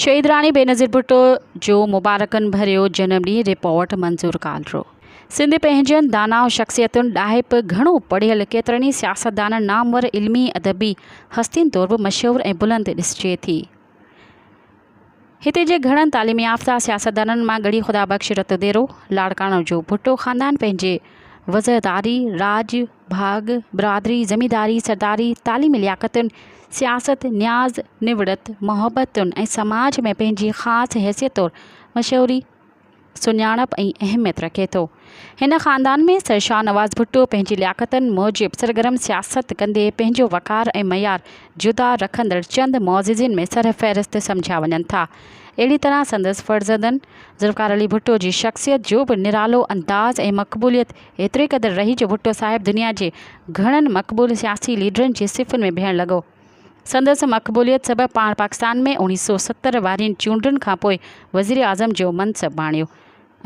شهيد راڻي بينظير ڀٽو جو مبارڪن ڀريو جنم ڏينهن رپورٽ منظور ڪالرو سنڌ پنهنجين داناء شخصيتن ڏاهپ گهڻو پڙهيل ڪيترن ئي سياستدانن نامور علمي ادبي هستين طور به مشهور ۽ بلند ڏسجي ٿي. هتي جي گهڻن تعليم يافته سياستدانن مان ڳڙهي خدا بخش رت ديرو لاڙڪاڻو جو ڀٽو خاندان پنهنجي وزرداري، راڄ، ڀاڳ، برادري، زمينداري، سرداري، تعليمي لياقتن، سياست، نياز، نوڙت، محبتن ۽ سماج ۾ پنهنجي خاص حيثيت طور مشهوري، سڃاڻپ ۽ اهميت رکي ٿو. هن خاندان ۾ سر شاهنواز ڀٽو پنهنجي لياقتن موجب سرگرم سياست ڪندي پنهنجو وقار ۽ معيار جدا رکندڙ چند معززين ۾ سر فهرست سمجهيا وڃن ٿا. اهڙي طرح سندس فرزندن ذوالفقار علي ڀٽو جي شخصيت جو به نرالو انداز ۽ مقبوليت ايتري قدر رهي جو ڀٽو صاحب دنيا جي گهڻن مقبول سياسي ليڊرن جي صفن ۾ بيهڻ لڳو. سندس مقبوليت سبب پاڻ پاڪستان ۾ اوڻيھ سؤ ستر وارين چونڊن کانپوء وزيراعظم جو منصب ڀاڻيو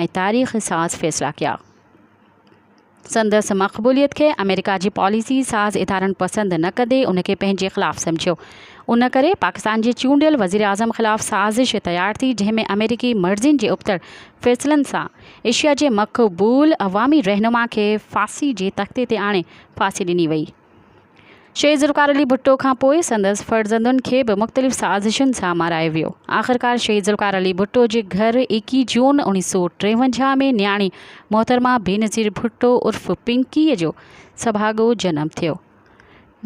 ۽ تاريخ ساز فيصلا ڪيا. سندس مقبوليت کي آمريڪا جي پاليسي ساز ادارن پسند نه ڪندي ان کي پنهنجي خلاف سمجهيو. ان ڪري پاڪستان جي چونڊيل وزيراعظم خلاف سازش تيار ٿي جنهن ۾ آمريڪي مرضين جي ابتڙ فيصلن سان ايشيا جي مقبول عوامي رهنما کي ڦاسي جي تختي تي آڻي ڦاسي ڏني وئي. شهيد ذوالفقار علي ڀٽو کان پوء سندس فرزندن کي به مختلف سازشن سان مارايو ويو. آخرڪار شهيد ذوالفقار علي ڀٽو جي گهر ايڪيهه جون اوڻيهه سؤ ٽيونجاهه ۾ نياڻي محترمه بينظير ڀٽو عرف پنڪيء جو سڀاڳو جنم ٿيو.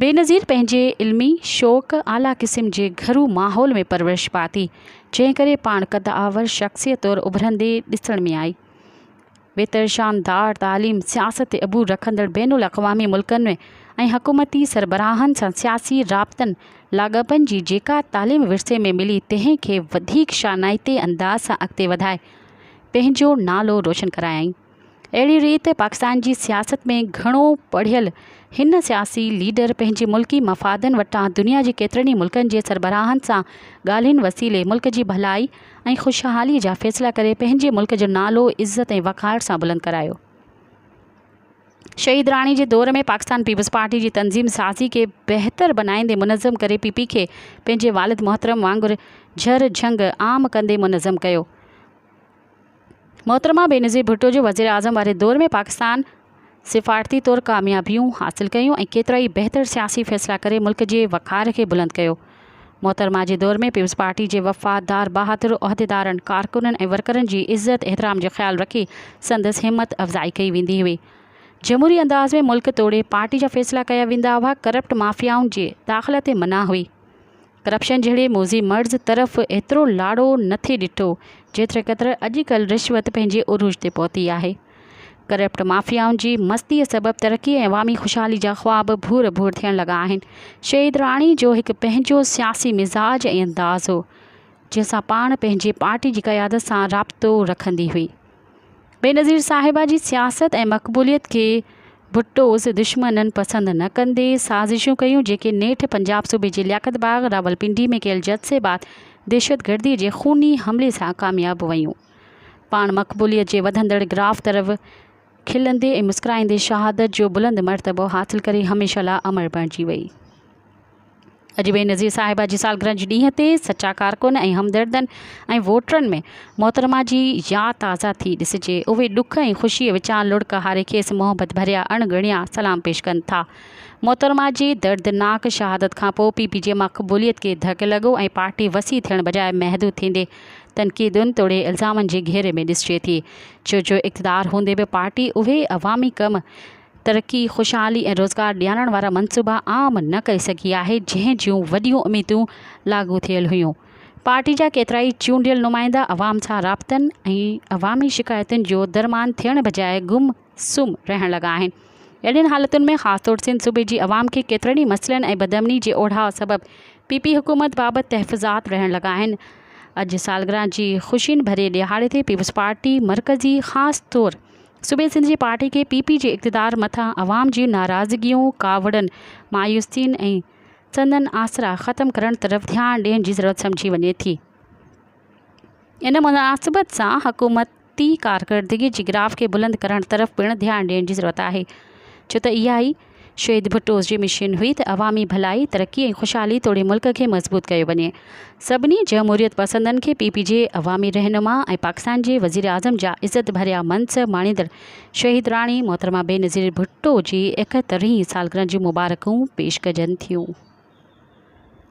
بينظير پنهنجي علمي شوق، اعليٰ قسم جي گهرو ماحول ۾ پرورش پاتي، جنهن ڪري پاڻ قدآور شخصيت طور اڀرندي ڏسڻ ۾ آئي. بهتر شاندار تعليم سياست تي عبور رکندڙ بين الاقوامي ملڪن ۾ ۽ حڪومتي سربراهن سان سياسي رابطن لاڳاپن جي جيڪا تعليم ورثي ۾ ملي تنهن کي وڌيڪ شانائتي انداز سان اڳتي وڌائي پنهنجو نالو روشن ڪرايائين اهڙي ريت پاڪستان جي سياست ۾ گهڻو پڙهيل هن سياسي ليڊر پنهنجي ملڪي مفادن وٽان دنيا جي ڪيترن ئي ملڪن جي سربراهن سان ڳالهين وسيلي ملڪ جي ڀلائي ۽ خوشحالي جا فيصلا ڪري پنهنجي ملڪ جو نالو عزت ۽ وقار سان بلند ڪرايو. شهيد راڻي جي دور ۾ پاڪستان پيپلز پارٽي جي تنظيم سازي کي بهتر بنائيندي منظم ڪري پي پي کي پنهنجي والد محترم وانگر جهر جهنگ عام ڪندي منظم ڪيو. محترمه بينظير ڀٽو جي وزيراعظم واري دور ۾ پاڪستان سفارتي طور ڪاميابيون حاصل ڪيون ۽ ڪيترائي بهتر سياسي فيصلا ڪري ملڪ جي وقار کي بلند ڪيو. محترمه جي دور ۾ پيپلز پارٽي جي وفادار بهادر عهديدارن، ڪارڪنن ۽ ورڪرن جي عزت احترام جو خيال رکي سندس همت افزائي ڪئي ويندي هئي. جمهوري انداز ۾ ملڪ توڙي پارٽي جا فيصلا ڪيا ويندا هئا، ڪرپٽ مافيائن جي داخلا تي منع هئي. ڪرپشن جهڙي موذي مرض طرف ايترو لاڙو نه ٿي ڏٺو جيتري قدر اڄ ڪلهه رشوت پنهنجي عروج تي پهتي آهي. ڪرپٽ مافيائن جي مستيء سبب ترقي ۽ عوامي خوشحالي جا خواب ڀور ڀور ٿيڻ لڳا آهن. شهيد راڻي جو هڪ پنهنجو سياسي مزاج ۽ انداز هو، جنهن سان پاڻ پنهنجي پارٽي جي قيادت سان رابطو رکندي هئي. بينظير صاحبه جي سياست ۽ مقبوليت کي ڀٽوس دشمنن پسند نه ڪندي سازشون ڪيون جيڪي نيٺ پنجاب صوبي جي لياقت باغ راولپنڊي ۾ ڪيل جد سي بعد دهشتگردي جي خوني حملي سان ڪامياب ويون. پاڻ مقبوليت جي وڌندڙ گراف طرف کلندي ۽ مسڪرائيندي شهادت جو بلند مرتبو حاصل ڪري هميشه لاء امر بڻجي وئي. اڄ بينظير صاحبه جي سالگرهه جي ڏينهن تي سچا ڪارڪن ۽ همدردن ۽ ووٽرن ۾ محترمه جي ياد تازه ٿي ڏسجي اهي ڏک ۽ خوشي وچان لڙڪ هاري کيس محبت ڀريا اڻ ڳڻيا سلام پيش ڪن ٿا محترمه جي دردناڪ شهادت کانپوء پي پي جي مقبوليت کي ڌڪ لڳو ۽ پارٽي وسيع ٿيڻ بجاء محدود ٿيندي تنقيدن توڙي الزامن جي گهيري ۾ ڏسجي ٿي ڇو جو اقتدار هوندي به پارٽي اهي عوامي ڪم ترقي، خوشحالي ۽ روزگار ڏيارڻ وارا منصوبا عام نه ڪري سگهي آهي، جنهن جون وڏيون اميدون لاڳو ٿيل هيون. پارٽي جا ڪيترائي چونڊيل نمائندا عوام سان رابطن ۽ عوامي شڪايتن جو درمان ٿيڻ بجاء گم سم رهڻ لڳا آهن. اهڙين حالتن ۾ خاص طور سنڌ صوبي جي عوام کي ڪيترن ئي مسئلن ۽ بدامني جي اوڍاء سبب پي پي حڪومت بابت تحفظات رهڻ لڳا آهن. اڄ سالگرهه جي خوشين ڀرئي ڏهاڙي تي پيپلزپارٽي مرڪزي خاص طور صوبي سنڌ جي پارٽي ڪي پي پي جي اقتدار مٿان عوام جي ناراضگيون، ڪاوڙن، مايوسين ۽ سندن آسرا ختم ڪرڻ طرف ڌيان ڏيڻ جي ضرورت سمجهي وڃي ٿي. ان مناسبت سان حڪومتي ڪارڪردگي جي گراف کي بلند ڪرڻ طرف پڻ ڌيان ڏيڻ جي ضرورت آهي ڇو ته اها ئي شھيد ڀٽو جي مشن ھئي ته عوامي ڀلائي، ترقي ۽ خوشحالي توڙي ملڪ کي مضبوط ڪيو وڃي. سڀني جمھوريت پسندن کي پي پي جي عوامي رھنما ۽ پاڪستان جي وزيراعظم جا عزت ڀريا منصب ماڻيندڙ شھيد راڻي محترمه بينظير ڀٽو جي ايڪهترھين سالگرھن جون مبارڪون پيش ڪجن ٿيون.